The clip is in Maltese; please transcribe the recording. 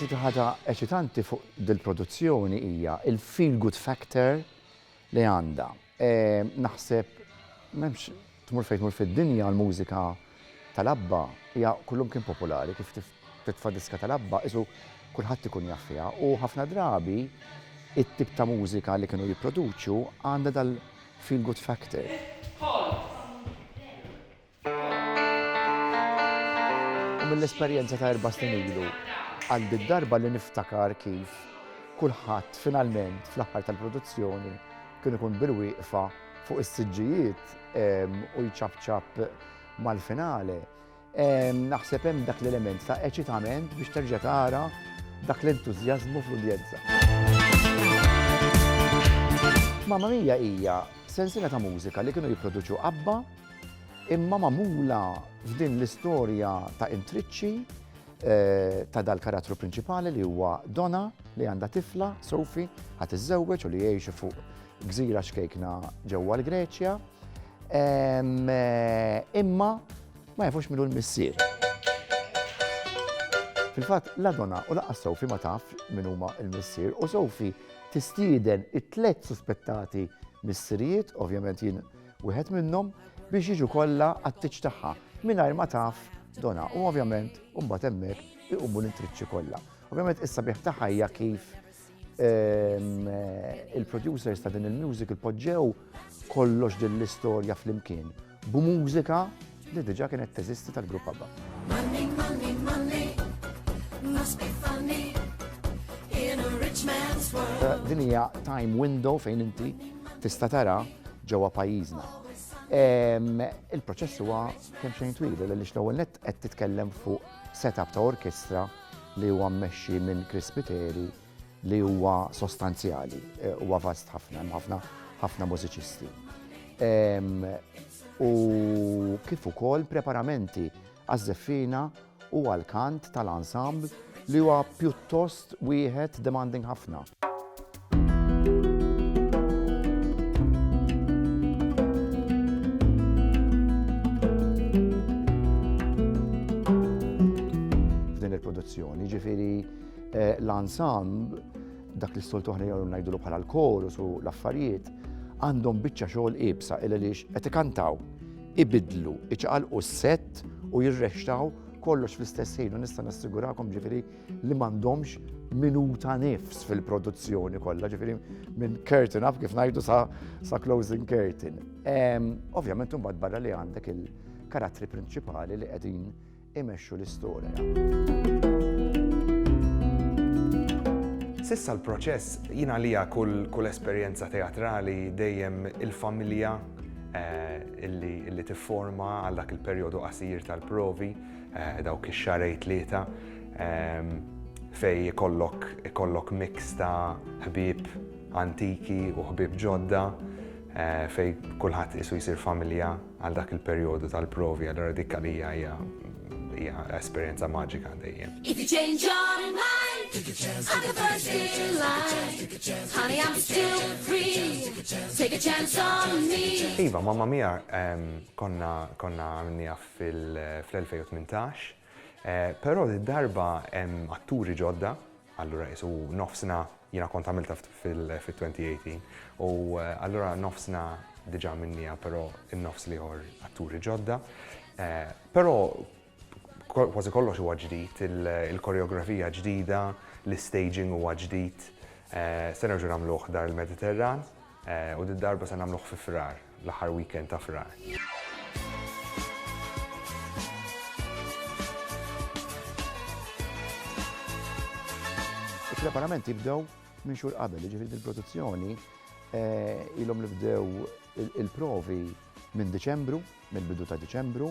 L-iktar ħaġa eċitanti fuq dil-produzzjoni hija il-feel good factor li għandha. Naħseb m'hemmx tmur fejn tmur fid-dinja l-mużika tal-ABBA hija kullimkien popolari kif Titfa' diska tal-ABBA, qisu kulħadd ikun jaf fiha u ħafna drabi it-tip ta' mużika li kienu jipproduċu għandha dal-feel-good factor. U mill-esperjenza ta' erba' snin ilu, għal did-darba li niftakar kif kulħadd finalment fl-aħħar tal-produzzjoni kien ikun bil-wieqfa fuq is-siġġijiet u jċapċap mal-finale, Naħseb hemm dak l-element ta' eċitament biex terġa' tara dak l-entużjażmu fl-udjenza. Mamma Mia hija sensina ta' mużika li kienu jipproduċu qabba imma magħmula f'din l-istorja ta' intriċċi eh, ta' dal-karattru prinċipali li huwa Donna li għandha tifla, Sofi, ħat iżżewweġ u li jgħixu fuq gżira xkejkna ġewwa l-Greċja. Eh, imma Ma jafux min hu l-missier. Fil-fatt, la Donna u lanqas Sophie ma tafx min huma l-missier u Sophie tistieden it-tliet suspettati missirijiet, ovvjament jien wieħed minnhom, biex jiġu kollha għat-tieġ tagħha mingħajr ma taf Donna u ovvjament imbagħad hemmhekk iqumu l-intriċċi kollha. Ovvjament is-sabiħ tagħha hija kif Ehm, il-producers ta' din il-music il-podġew kollox din l-istorja fl-imkien b'mużika li diġa kienet teżisti tal-grupp għabba. Money, money, money, must be funny in a rich man's world. Eh, din hija time window fejn inti tista' tara ġewwa pajjiżna. Ehm, il-proċess huwa kemm xejn twil, li l-ewwel net qed titkellem fuq setup ta' orkestra li huwa mmexxi minn Chris Spiteri li huwa sostanzjali, eh, huwa vast ħafna, ħafna ħafna mużiċisti. U kif ukoll preparamenti għaż-żeffina u għal-kant tal-ensemble li huwa pjuttost wieħed demanding ħafna. F'din il-produzzjoni, ġifiri eh, l-ensemble, dak li s-soltu ħna jgħu najdulu bħala l-korus u l-affarijiet, għandhom biċċa xogħol ibsa il għaliex qed ikantaw, ibidlu, iċaqalqu s-set u jirrextaw kollox fl-istess ħin u nista' nassigurakom ġifieri li m'għandhomx minuta nifs fil-produzzjoni kollha, ġifieri minn curtain up kif ngħidu sa, sa closing curtain. Ovvjament imbagħad barra li għandek il-karattri prinċipali li qegħdin imexxu l-istorja. Sissa l-proċess jina lija kull, kull esperjenza teatrali dejjem il-familja eh, illi, illi tifforma għal dak il-perjodu qasir tal-provi Eh, dawk ix-xarej tlieta ehm, fej ikollok ikollok mix ta' ħbieb antiki u ħbieb ġodda eh, fej kulħadd isu jsir familja għal dak il-perjodu tal-provi għal dik għalija hija hija esperjenza maġika dejjem. If you change your mind, take a chance, I'm the first in line. Honey, I'm still free. Take a chance on me. Iva, mamma mia ehm, konna konna għamilni għaf fl-2018, però did-darba hemm atturi ġodda, allura qisu nofsna, jiena kont għamiltha fit-2018, u allura nofsna diġà minniha però n-nofs l-ieħor atturi ġodda. Però kważi kollox huwa ġdid, il-koreografija ġdida, l-istaging huwa ġdid. Se nerġgħu nagħmluh Dar il-Mediterran u did-darba se nagħmluh fi Frar. l-aħħar weekend ta' Frar. Il-preparamenti jibdew minn xhur qabel, jiġifieri dil-produzzjoni ilhom li bdew il-provi minn Diċembru, mill-bidu ta' Diċembru.